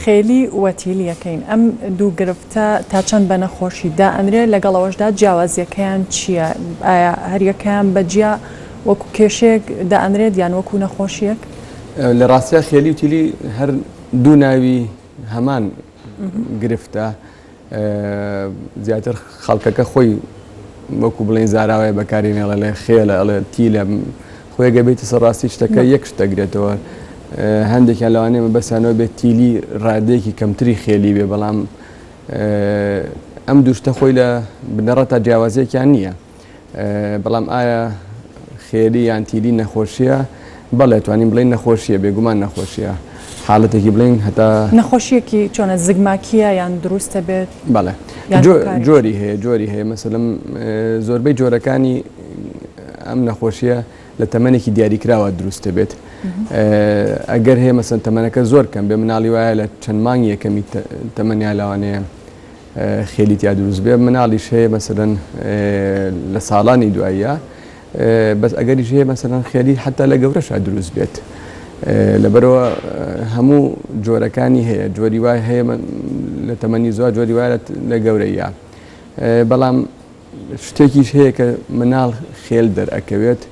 خێلی و تیلیەکەین ئەم دوو گرفتە تا چەند بە نەخۆشی دائەنرێ لەگەڵ ئەوەشدا جیاوازیەکەیان چییە؟ ئایا هەریەکەیان بە جیا وەکو کێشەیەک دائەنرێت یان وەکو نەخۆشیەک؟ لە ڕاستیا خێلی و تیلی هەر دوو ناوی هەمان گرفتە. زیاتر خەڵکەکە خۆی وەکو بڵێن زاراوەیە بەکاری نێڵە لێ خێلە ئەڵێ تیلە خۆێگە بێتە سەر ڕاستی شتەکە یەک شت دەگرێتەوە هەندێکیان لەوانێ مە بەسیانەوە بێت تیلی ڕادێکی کەمتری خێلی بێ بەڵام ئەم دوشتە خۆی لە بنەڕەتا جیاوازێکیان نییە. بەڵام ئایا خێری یان تیری نەخۆشیە بەڵێ توانین بڵین نەخۆشیە بێگومان نەخۆشیە حالەتێکی بڵین هەتا نەخۆشیەکی چۆنە زگماکیە یان دروستە بێت بەڵێ جۆری هەیە جۆری هەیە مەسلم زۆربەی جۆرەکانی ئەم نەخۆشیە لە تەمەێکی دیاریکراوە دروستە بێت ئەگەر هەیە مەسن تەمەەکە زۆر کەم بێ مناڵی وایە لە چەند مانگ یەکەمی تەمەنیا لاوانەیە خێلی تیا دروست بێ مناڵیش هەیە مەسەلەن لە ساڵانی دواییە بەس ئەگەریش هەیە مەسەلەن خێلی حتا لە گەورەشا دروست بێت لەبەرەوە هەموو جۆرەکانی هەیە جۆری وای هەیە لە تەمەنی زۆر جۆری وایە لە گەورەیە بەڵام شتێکیش هەیە کە مناڵ خێل دەرئەکەوێت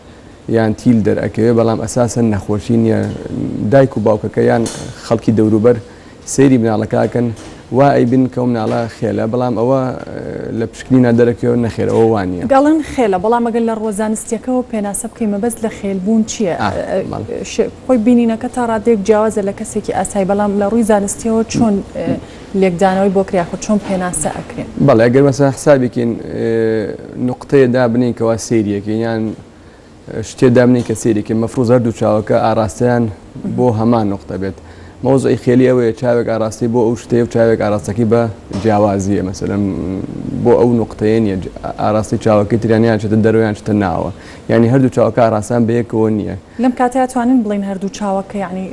یان تیل دەرئەکەوێت بەڵام ئەساسەن نەخۆشی نییە دایک و باوکەکە یان خەڵکی دەوروبەر سەیری مناڵەکەکەن وا ئەیبن کەم ناڵە خێلە بەڵام ئەوە لە پشکنی نادەرەکەوە نەخێرەوە وانە دەڵن خێلە بەڵام ئەگەر لە ڕوەزانستیەکەەوە پێناسە بکەی مەبەست لە خێلبوون چییە خۆی بینینەکە تا ڕادێک جیاوازە لە کەسێکی ئاسای بەڵام لە ڕووی زانستیەوە چۆن لێکدانەوەی بۆ کرا یاخود چۆن پێناسە ئەکرێن؟ بەڵێ ئەگەر مەسەن حسابێکین نوقتەیە دابنین کەوا سەیریەکەین یان شتێ دابنین کە سەیرێکی مەفروز هەردوو چاوەکە ئاراستەیان بۆ هەمان نوقتە بێت مەوزعی خێلی ئەوەیە چاوێک ئاراستی بۆ ئەو شتەیە و چاوێک ئاراستەکەی بە جیاوازیە مەسەرم بۆ ئەو نوقتەیە نیە ئاراستی چاوەکەی تریانیان چێتە دەرویان شتە ناوە یعنی هەردوو چاوەکە ئاراستان بەیەکەوە نییە لەم کاتەیا توانین بڵێین هەردوو چاوە کە یەعنی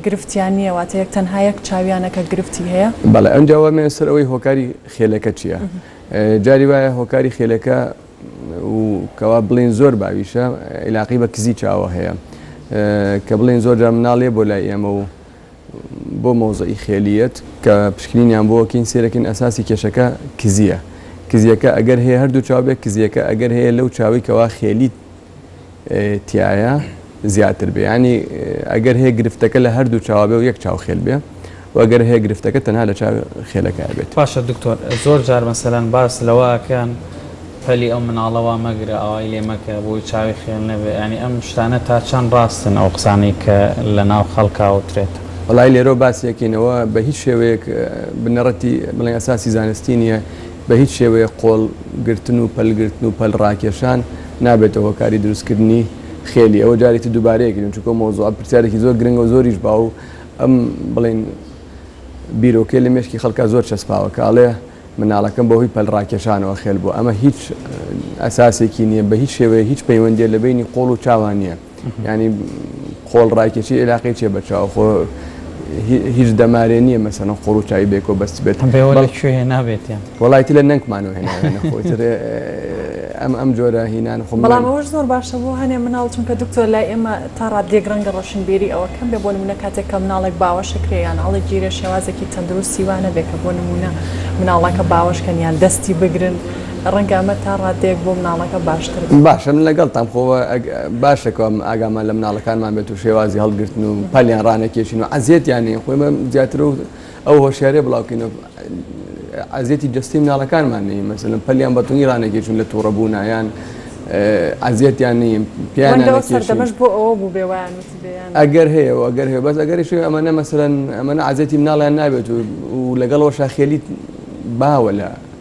گرفتیان نییە واتە یەک تەنها یەک چاویانە کە گرفتی هەیە؟ بەڵێ ئەنجا وەرمێنە سەر ئەوەی هۆکاری خێلەکە چییە جاری وایە هۆکاری خێلەکە و کەوا بڵێین زۆر باویشە ئیلاقەی بە کزی چاوە هەیە کە بڵێین زۆر جار مناڵیە بۆ لای ئێمە و بۆ مەوزەعی خێلیەت کە پشکنینیان بۆوە کین سیرەکین ئەساسی کێشەکە کزیە کزیەکە ئەگەر هەیە هەردوو چاو بێ کزیەکە ئەگەر هەیە لەو چاوەی کەوا خێلی تیایە زیاتر بێ ینی ئەگەر هەیە گرفتەکە لە هەردوو چاوە بێ و یەک چاو خێل بێ وەگەر هەیە گرفتەکە تەنها لە چاو خێلەکە بێت باشە دکتۆر زۆر جار مەسەلەن باس لەوە ئەکەن پەلی ئەو مناڵە وا مەگرە ئاوای لێ مەکە بۆی چاوی خێل نەبێ یانی ئەم شتانە تا چەن ڕاستن ئەو قسانەی کە لە ناو خەڵکا ئەوترێت. وەڵایی لێرەوە باسی ئەکەین ئەوە بە هیچ شێوەیەک بنەڕەتی بڵێین ئەساسی زانستی نیە بە هیچ شێوەیەک قۆڵ گرتن و پەل گرتن و پەل ڕاکێشان نابێتە هۆکاری دروست کردنی خێلی ئەوە جارێ تر دوبارەی ئەکرێن چونکە ئەو مەوزوعە پرسیارێکی زۆر گرنگە و زۆریش باو ئەم بڵێین بیرۆکەی لە مێشکی خەڵکا زۆر چەسپاوە کە ئەڵێ مناڵەکەم بەهۆی پەلڕاکێشانەوە خێل بووە، ئەمە هیچ ئەساسێکی نییە، بە هیچ شێوەیەک هیچ پەیوەندییە لە بەینی قۆڵ و چاوان نییە، یانی قۆڵ ڕاکێشی ئێلاقەی چییە بە چاو، خۆ هیچ دەمارێ نییە مەسەڵەن قۆڵ و چاوی بەیەکەوە بەستبێت. هەم بێوە لە کوێ هێنابێتیان؟ وەڵا ئیتر لە نەنکمانەوە هێناوێنە خۆ ئیتر ئەم ئەم جۆرە هینانە خۆ. بەڵام ئەوەش زۆر باشە بۆ هەنێ مناڵ چونکە دکتۆر لای ئێمە، تا ڕاددەیەک ڕەنگە ڕۆشنبیری ئەوە کەم بێ بۆ نمونە کاتێک کە مناڵێک باوەشە کرێ یان هەڵی گیرێ شێوازێکی تەندروستی وا نەبێ کە بۆ نمونە مناڵەکە باوەش کەن یان دەستی بگرن ڕەنگە ئەمە تا ڕاددەیەک بۆ مناڵەکە باشتر بێ. باشە من لەگەڵتام خۆ باشە کە ئاگامان لە مناڵەکانمان بێت و شێوازی هەڵگرتن و پەلیان ڕانەکێشین و عەزێتیان نەین خۆ ئێمە زیاتر و ئەو هۆشیاریە بڵاوکەینە ئەزیەتی جەستەی مناڵەکانمان نەین مەسەلەن پەلیان بەتونی ڕانەگەیشتون لە تووڕە بوونا یان ئازیەتیان نیم پیان سەردەمەش بۆ ئەوە بوو بێ وایان ئەگەر هەیە و ئەگەر هەیە بەس ئەگەری شوێ ئەمەە مەسەرەن ئەمەە ئازیەتی مناڵیان نابێت و لەگەڵەوە شاخێلیت باوە لە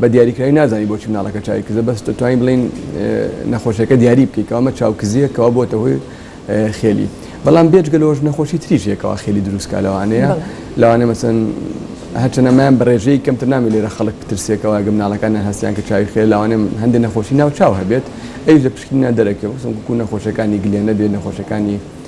بە دیاریکراوی نازانین بۆچی مناڵەکە چاوی کزە بەس دەتوانین بڵێین نەخۆشیەکە دیاری بکەی کە ئەمە چاو کزیە کەوا بۆتە هۆی خێلی بەڵام بێجگە لەۆژ نەخۆشی تریش هەیەکەوا خێلی دروستکە لەوانەیە لەوانە مەسن هەچەنەمان بەڕێژەی کەمتر نامی لێرە خەڵک ترسێکەوە گە مناڵەکانە هەستیان کە چاوی خێ لاوانێ هەندی نەخۆشی ناو چاو هەبێت ئەوش لە پشکنیان دەرەکەوە سم کو نەخۆشەکانی گلێنە بێ نەخۆشەکانی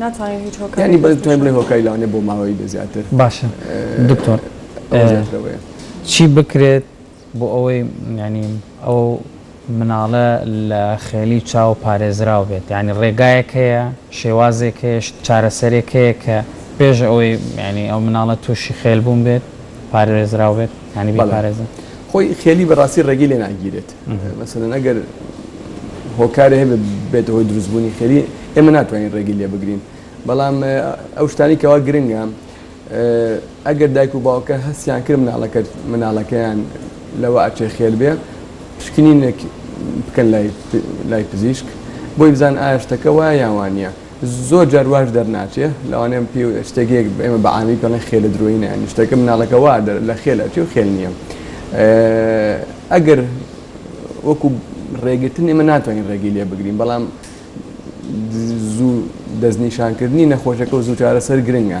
ناتوانین هیچ هۆکارێک یانی بەس توانین بڵێ هۆکاری لەوانەیە بۆ ماوەی بێ زیاتر باشە دکتۆر ئەوە زیاترەوەیە. چی بکرێت بۆ ئەوەی یانی ئەو مناڵە لە خێلی چاو پارێزراو بێت یانی ڕێگایەک هەیە شێوازێک هەیە چارەسەرێک هەیە کە پێش ئەوەی یانی ئەو مناڵە تووشی خێل بوون بێت پارێزراو بێت یانی بەڵێ بیپارێزن؟ خۆی خێلی بەڕاستی ڕێگەی لێ ناگیرێت مەسەلەن ئەگەر هۆکارێ هەبێ بێتە هۆی دروست بوونی خێری ئێمە ناتوانین ڕێگی لێ بگرین بەڵام ئەو شتانی کەوا گرنگە ئەگەر دایک و باوکە هەستیان کرد مناڵەکە مناڵەکەیان لەوە ئەچێ خێر بێ پشکنینێک بکەن لای لای پزیشک بۆی بزان ئاشتەکە وایە یاوانە زۆر جار واش دەرناچێ لەوانەیە پێ شتێک یەک ئێمە بە عامی پێڵێن خێلە درۆینە یانی شتەکە مناڵەکە وا دەر لە خێل ئەچێ و خێل نییە ئەگەر وەکو ڕێگرتن ئێمە ناتوانین ڕێگەی لێ بگرین بەڵام زوو دەستنیشانکردنی نەخۆشەکە و زوو چارەسەر گرنگە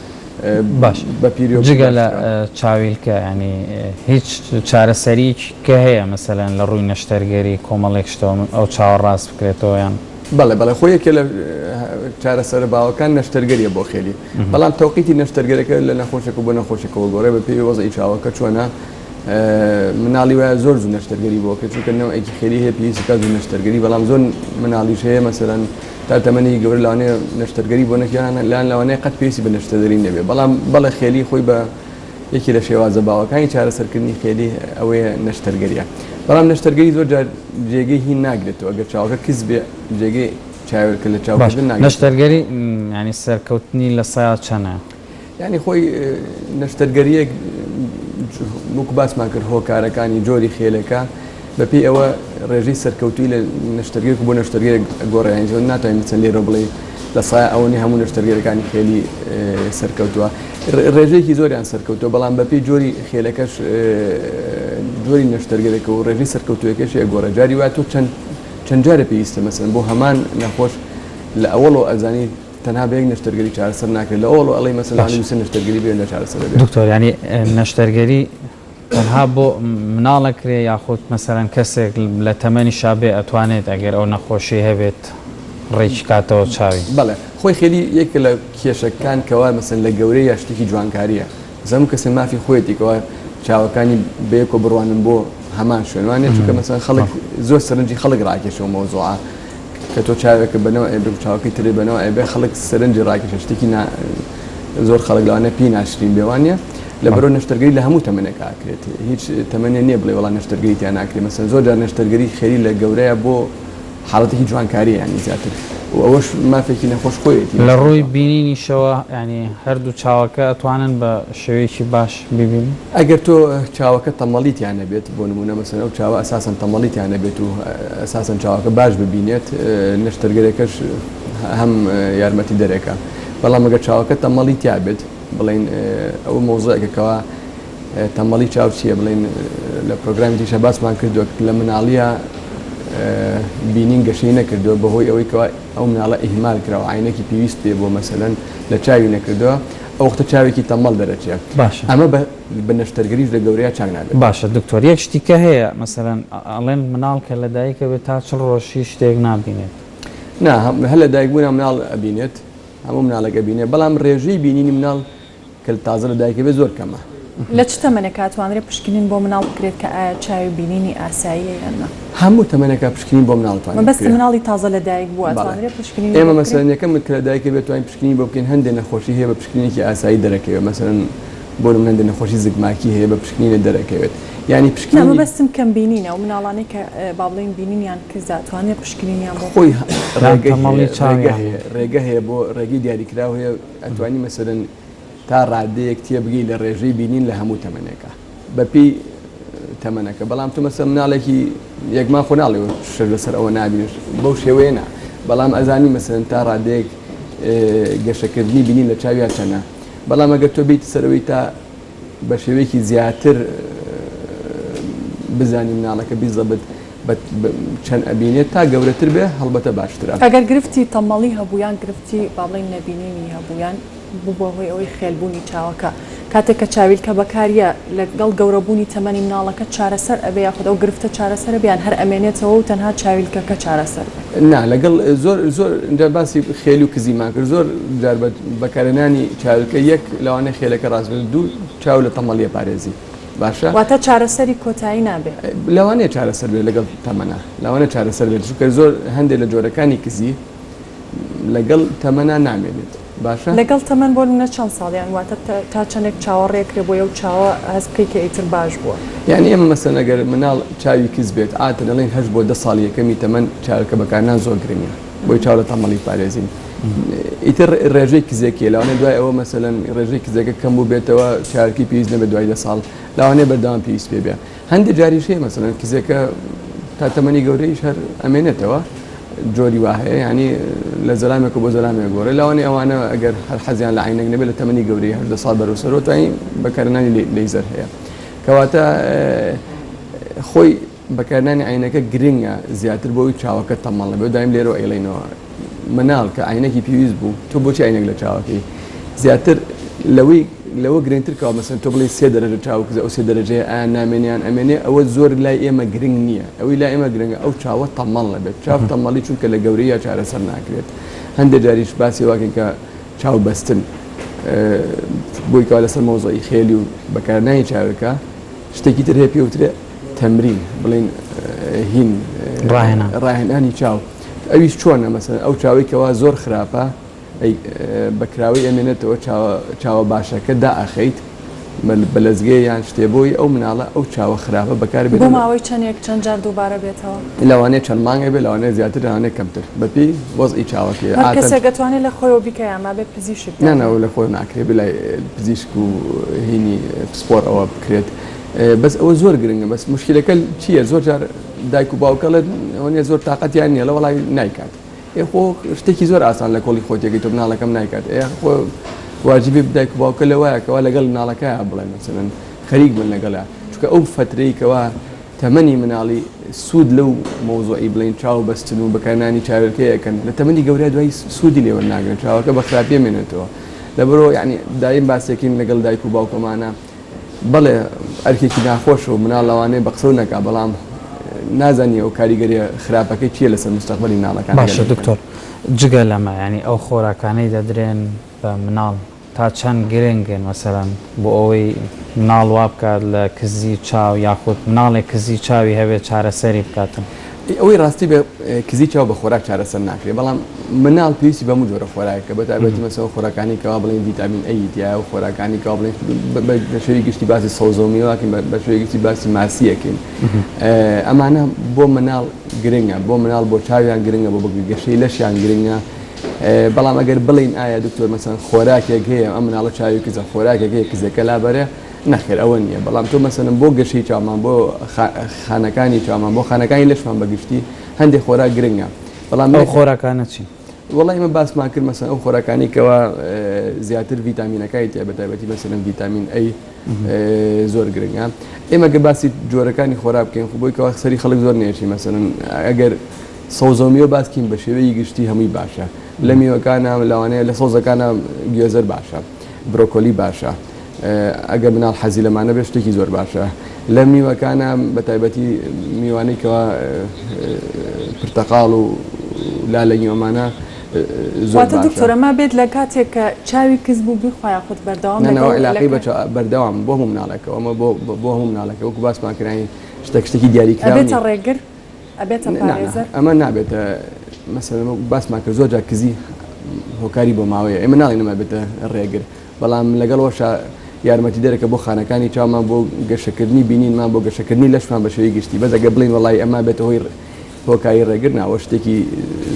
باش بە پیریۆ جگە لە چاویلکە ینی هیچ چارەسەریک کە هەیە مەسەلەن لە ڕووی نەشتەرگەری کۆمەڵێک شتەوە ئەو چاوە ڕاست بکرێتەوە یان بەڵێ بەڵێ خۆ یەکێ لە چارەسەرە باوەکان نەشتەرگەریە بۆ خێری بەڵام تەوقیتی نەشتەرگەرەکە لە نەخۆشێکە بۆ نەخۆشێکەوە گۆڕێ بە پێی وەزعی چاوەکە چۆنە مناڵی وایە زۆر زوو نەشتەرگەری بۆ کرد چونکە نەوەیەکی خێری هەیە پێویستی کات زوو نەشتەرگەری بەڵام زۆر مناڵیش هەیە مەسەرەن تا تەمەنی گەور لەوانێ نەشتەرگەری بۆ نەکیان لەیان لەوانەیە قەت پێویستی بە نەشتەدەری نەبێ بەڵام بەڵێ خێلی خۆی بە یەکی لە شێوازە باوەکانی چارەسەرکردنی خێلی ئەوەیە نەشتەرگەریە بەڵام نەشتەرگەری زۆر جار جێگەی هی ناگرێتەوە ئەگەر چاوەکە کز بێ جێگەی چاوێکە لە چاوکردن نەشتەرگەری ینی سەرکەوتنی لە سایە چەنە؟ یانی خۆی نەشتەرگەریەک وەکو باسمان کرد هۆکارەکانی جۆری خێلەکە بەپی ئەوە ڕێژەی سەرکەوتوی لە نەشتەرگەر بۆ نەشتەرگەر گۆڕیان زۆر ناتوانین بچەن لێرە بڵێ لە سای ئەوەنی هەموو نەشتەرگەرەکانی خێلی سەرکەوتووە ڕێژێکی زۆریان سەرکەوتوە بەڵام بەپی جۆری خێلەکەش جۆری نەشتەرگەرەکە و ڕێژی سەرکەوتوەکەشی ئەگۆڕە جاری واتۆ چەند چەند جارە پێویستە مەسن بۆ هەمان نەخۆش لە ئەوەڵۆ ئەزانی تەنها بە یەک نەشتەرگەری چارەسەر ناکرێت لە ئەوڵ ئەڵی مەسەلا نووسە نەشتەرگەری بێن لە چارەسەر دەبێت دکتۆر ینی نەشتەرگەری تەنها بۆ مناڵە کرێ یاخود مەسەرەن کەسێک لە تەمەنی شابێ ئەتوانێت ئەگەر ئەو نەخۆشی هەبێت ڕێکی کاتەوە چاوی بەڵێ خۆی خێری یەکە لە کێشەکان کەوا مەسەن لە گەورەی یا شتێکی جوانکاریە بەس هەموو کەسێ مافی خۆیەتی کەوا چاوەکانی بەیەکەوە بڕوانن بۆ هەمان شوێن وانە چونکە مەسەن خەڵک زۆر سەرنجی خەڵک ڕاکێشەوە مەوزوعە کە تۆ چاوێکە بەنەوە ئەبێ و چاوەکەی ترێ بەنەوە ئەبێ خەڵک سەرنجی ڕاکێشە شتێکی زۆر خەڵک لەوانە پێی ناشرین بێوانە لە بەرەو نەشتەرگەری لە هەموو تەمەنێک ئاکرێت هیچ تەمەنێ نییە بڵێ وڵا نەشتەرگەری تیان ناکرێ مەسەن زۆر جار نەشتەرگەری خێری لە گەورەیە بۆ حاڵەتێکی جوانکاریە یانی زیاتر و ئەوەش مافێکی نەخۆش خۆیەتی. لە ڕووی بینینیشەوە یانی هەردوو چاوەکە ئەتوانن بە شێوەیەکی باش بیبینن؟ ئەگەر تۆ چاوەکە تەمەڵی تیا نەبێت بۆ نموونە مەسەلەن ئەو چاوە ئەساسەن تەمەڵی تیا نەبێت و ئەساسەن چاوەکە باش ببینێت نەشتەرگەرەکەش هەم یارمەتیدەرێکە بەڵام ئەگەر چاوەکە تەمەڵی تیا بێت بڵێن ئەوە مەوزوعێکە کەوا تەمبەڵی چاو چیە بڵێن لە پرۆگرامی تریشا باسمان کردووە لە مناڵیە بینین گەشەی نەکردووە بەهۆی ئەوەی کەوا ئەو مناڵە ئیهمال کراوە عینەکی پێویست پێ بۆ مەسەلەن لە چاوی نەکردووە ئەو وەختە چاوێکی تەمەڵ دەرەچێت باشە ئەمە بە نەشتەرگەریش لە گەورەیا چاک نابێت باشە دکتۆر یەک شتیکە هەیە مەسەلەن ئەڵێن مناڵ کە لە دایکە بێت تا چڵ ڕۆژ هیچ شتێک نابینێت نا هەم هەر لە دایکبوونا مناڵ ئەبینێت هەموو مناڵێک ئەبینێت بەڵام ڕێژەی بینینی مناڵ کە تازە لە دایکەبێت زۆر کەمە. لە چ تەمەنێکا ئەتوانرێت پشکنین بۆ مناڵ بکرێت کە ئایا چاوی بینینی ئاساییە یان نا؟ هەموو تەمەنێکا پشکنین بۆ مناڵ ئەتوانرێت بکرێت. مەبەست مناڵی تازە لە دایک بووە ئەتوانرێت پشکنینی بۆ بکرێت؟ ئێمە مەسەلەن یەکەم کە لە دایکە بێت توانین پشکنینی بۆ بکەین هەندێ نەخۆشی هەیە بە پشکنینێکی ئاسایی دەرەکەوێت مەسەلەن بۆ نمونە هەندێ نەخۆشی زگماکی هەیە بە پشکنینە دەرەکەوێت یانی پشکنینی. نا مەبەستم کەم بینینە ئەو مناڵانەی کە با بڵێین بینینیان کزە ئەتوانرێت پشکنینیان بۆ بکرێت؟ خۆی ڕێگە هەیە ڕێگە هەیە بۆ ڕێگەی دیاریکراو هەیە. ئەتوانی مەسەلەن تا ڕادەیەک تێبگەی لە ڕێژەی بینین لە هەموو تەمەنێکا بە پێی تەمەنەکە بەڵام تۆ مەسەلەن مناڵێکی یەک مانگ خۆ ناڵێ شەش لەسەر ئەوە نابینێت بەو شێوەیە نا بەڵام ئەزانی مەسەلەن تا ڕادەیەک گەشەکردنی بینین لە چاویا چەنە بەڵام ئەگەر تۆ بیت سەرەوەی تا بە شێوەیەکی زیاتر بزانی مناڵەکە بی زەبت چەند ئەبینێت تا گەورەتر بێ هەڵبەتە باشترە. ئەگەر گرفتی تەمەڵی هەبوو یان گرفتی با بڵێین نەبینینی هەبوو یان ببوە هۆی ئەوەی خێلبوونی چاوەکە کاتێک کە چاویلکە بەکاریە لەگەڵ گەورەبوونی تەمەنی مناڵەکە چارەسەر ئەبێ یاخود ئەو گرفتە چارەسەر ئەبێ یان هەر ئەمێنێتەوە و تەنها چاویلکەکە چارەسەر بێ. نا لەگەڵ زۆر زۆر جار باسی خێل و کزیمان کرد زۆر جار بە بەکارێنانی چاویلکە یەک لەوانەیە خێلەکە ڕاست بێت دوو چاو لە تەمەڵیە پارێزی باشە واتە چارەسەری کۆتایی نابێ. لەوانەیە چارەسەر بێت لەگەڵ تەمەنا لەوانەیە چارەسەر بێت چونکە زۆر هەندێک لە جۆرەکانی کزی لەگەڵ تەمەنا نامێنێت. باشە؟ لەگەڵ تەمەن بۆ منە چەند ساڵ یان واتە تا چەنێک چاوە ڕێکرێ بۆ یەو چاوە هەست بکەی کە ئیتر باش بووە؟ یانی ئێمە مەسەلەن ئەگەر مناڵ چاوی کز بێت عادەتەن ئەڵێن هەشت بۆ دە ساڵی یەکەمی تەمەن چاوێکە بەکارنان زۆر گرنگە بۆی چاو لە تەمەڵی پارێزین ئیتر ڕێژەی کزێکیە لەوانەیە دوای ئەوە مەسەلەن ڕێژەی کزەکە کەم بوو بێتەوە چاوێکی پێویست نەبێت دوای دە ساڵ لەوانەیە بەردەوام پێویست پێ بێ. هەندێک جاریش هەیە مەسەلەن کزێکە تا تەمەنی گەورەیش هەر ئەمێنێتەوە جۆری وا هەیە ینی لە زەلامێک بۆ زەلامێک گۆڕێ لاوانی ئەوانە ئەگەر هەر حەزیان لە عینەک نەبێت لە تەمەنی گەورەی هەشدە ساڵ بەرەو سەرۆتایی بەکارنانی لەیزەر هەیە کەواتە خۆی بەکارنانی عینەکە گرنگە زیاتر بۆی چاوەکە تەمەڵە بێ دایم لێرە ئەیڵینەوە منال کە عەینەکی پێویست بوو تۆ بۆچی عەینەک لە چاوەکەی زیاتر لەوەی لەوە گرنگتر کەوا مەسەن تۆ بڵێ سێ دەرەجە چاو کزە ئەو سێ دەرەجەیە ئایا نامێنیان ئەمێنێ ئەوە زۆر لای ئێمە گرنگ نییە ئەوەی لای ئێمە گرنگە ئەو چاوە تەمەڵ نەبێت چاو تەمەڵی چونکە لە گەورەیە چارەسەر ناکرێت هەندێک جاریش باسی واکەین کە چاو بەستن بۆی کەوا لەسەر مۆزەی خێلی و بەکارنانی چاوەکە شتێکی تر هەیە پێوترێ تەمرین بڵین هین ڕاهێنانی چاو ئەویش چۆنە مەسەن ئەو چاوەی کەوا زۆر خراپە ئەی بە کراوەی ئەمێنێتەوە چاوە باشەکە دا ئەخەیت بە لەزگێ یان شتێ بۆی ئەو مناڵە ئەو چاوە خراپە بەکار بێت بۆ ماوەی چەندێک چەند جار دووبارە بێتەوە لەوانەیە چەند مانگێ بێ لەوانەیە زیاتر لەوانەیە کەمتر بەپێی وەزعی چاوەکەی هەر کەسێک دەتوانێت لە خۆیەوە بیکە یان نابێت پزیشک نا نا لە خۆی ناکرێت بلای پزیشک و هینی پسپۆر ئەوە بکرێت بەس ئەوە زۆر گرنگە بەس مشکلەکە چییە زۆر جار دایک و باوک ئەڵێت ئەوە نیە زۆر تاقەتیان نیە ئەڵێ وەڵای نایکات ئێ خۆ شتێکی زۆر ئاسان لە کۆڵی خۆت تێگەی تۆ مناڵەکەم نایکات ئێ خۆ واجبی دایک و باوکە لە وایە کەوا لەگەڵ مناڵەکەیان بڵێن مەسەلەن خەریک بن لەگەڵا چونکە ئەو فەترەی کەوا تەمەنی مناڵی سوود لەو مەوزوعی بڵێن چاو بەستن و بەکارنانی چاوێلکە یەکەن لە تەمەنی گەورە دوای سوودی لێوەر ناگرن چاوەکە بە خراپیە مێنێتەوە لەبەرەوە یعنی دایم باسێکین لەگەڵ دایک و باوکەمانە بەڵێ ئەرکێکی ناخۆشە و مناڵ لەوانەیە بە قسەو نەکا بەڵام نازانی ئەو کاریگەریە خراپەکەی چیە لەسەر مستەقبەلی مناڵەکان. باشە دکتۆر جگە لەمە یانی ئەو خۆراکانەی دەدرێن بە مناڵ تا چەند گرنگن مەسەلەن بۆ ئەوەی مناڵ وابکات لە کزی چاو یاخود مناڵێک کزی چاوی هەبێت چارەسەری بکاتن ئەی ئەوەی ڕاستی بێ کزی چاو بە خۆراک چارەسەر ناکرێ بەڵام مناڵ پێویستی بە هەموو جۆرە خۆراکێکە بە تایبەتی مەسەڵەن ئەو خۆراکانی کەوا بڵێن ڤیتامین ئەیی تیایە و خۆراکانی کەوا بڵێن بە شێوەی گشتی باسی سەوزە و میوە ئەکەین بە شێوەی گشتی باسی ماسی ئەکەین ئەمانە بۆ مناڵ گرنگە بۆ مناڵ بۆ چاویان گرنگە بۆ بەگوێ گەشەی لەشیان گرنگە بەڵام ئەگەر بڵێین ئایا دکتۆر مەسەڵەن خۆراکێک هەیە ئەم مناڵە چاوی کزە خۆراکێک هەیە کزەکە لابەرێ نەخێر ئەوە نییە، بەڵام تۆ مەسەلەن بۆ گەشەی چاومان، بۆ خانەکانی چاومان، بۆ خانەکانی لەشمان بە گشتی هەندێ خۆراک گرنگە، بەڵام. ئەو خۆراکانە چین؟ وەڵا ئێمە باسمان کرد مەسەلەن ئەو خۆراکانەی کەوا زیاتر ڤیتامینەکانی تیایە بە تایبەتی مەسەلەن ڤیتامین ئەی زۆر گرنگە، ئێمە گەر باسی جۆرەکانی خۆراک بکەین خۆ بۆی کەوا سەری خەڵک زۆر نێشی مەسەلەن ئەگەر سەوزە و میوە باس بکەین بە شێوەی گشتی هەمووی باشە، لە میوەکانە لەوانەیە لە سەوزەکانە گوێزەر باشە، برۆکۆلی باشە، ئەگەر مناڵ حەزی لەمانە بێت شتێکی زۆر باشە لەم میوەکانە بە تایبەتی میوانەی کەوا پرتەقاڵ و لالەنی ئەمانە دکتۆرە ما بێت لە کاتێک کە چاوی کز بوو بیخوایە خود بەردەوام علاقی بە بەردەوام بۆ هەموو مناڵەکە ئەمە بۆ هەموو مناڵەکە وەکو باسمان کرانی شتە شتێکی دیاری کرێتە ڕێگر ئەمە نابێتە مەسەر باسمان کرد زۆر جا کزی هۆکاری بۆ ماوەیە ئێمە ناڵێ نەما بێتە ڕێگر بەڵام لەگەڵوەشا یارمەتیدەرەکە بۆ خانەکانی چاومان بۆ گەشەکردنی بینینمان بۆ گەشەکردنی لەشمان بە شێوەی گشتی بەس ئەگەر بڵێین وەڵایی ئەمە بێتە هۆی هۆکاری ڕێگر نا ئەوە شتێکی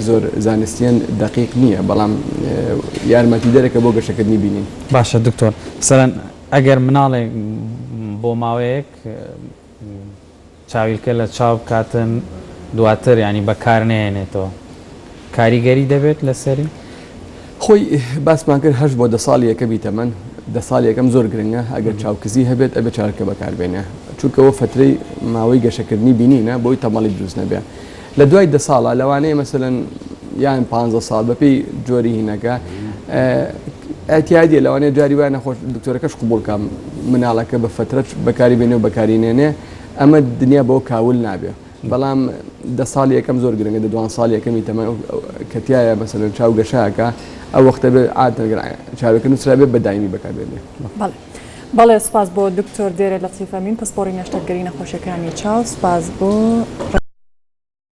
زۆر زانستیان دەقیق نییە بەڵام یارمەتیدەرەکە بۆ گەشەکردنی بینین باشە دکتۆر مثلەن ئەگەر مناڵێک بۆ ماوەیەک چاویلکە لە چاو بکاتن دواتر یانی بەکار نەهێنێتەوە کاریگەری دەبێت لەسەری؟ خۆی باسمان کرد هەشت بۆ دە ساڵی یەکەمی تەمەن دە ساڵی یەکەم زۆر گرنگە ئەگەر چاو کزی هەبێت ئەبێ چاویلکە بەکار بێنێ چونکە ئەوە فەترەی ماوەی گەشەکردنی بینینە بۆی تەمەڵی دروست نەبێ لە دوای دە ساڵە لەوانەیە مەسەلەن یان پانزە ساڵ بەپێی جۆری هینەکە ئەتیادیە لەوانەیە جاری وایە نەخۆش دکتۆرەکەش قبوڵکە مناڵەکە بە فەترەت بەکاری بێنێ و بەکاری نێنێ ئەمە دنیا بەوە کاول نابێ بەڵام دە ساڵ یەکەم زۆر گرنگە دە دوان ساڵ یەکەمی تەمە کەتیایە بەسەر چاو گەشاکە ئەو وەختە بێ ئاتەگرا چاوەکە نووسرا بێ بەدایمی بەکاربێنێ بەڵێ سپاس بۆ دکتۆر دێرە لە تیفەمین پسپۆری نەشتەرگەری نەخۆشیەکانی چاو سپاس بۆ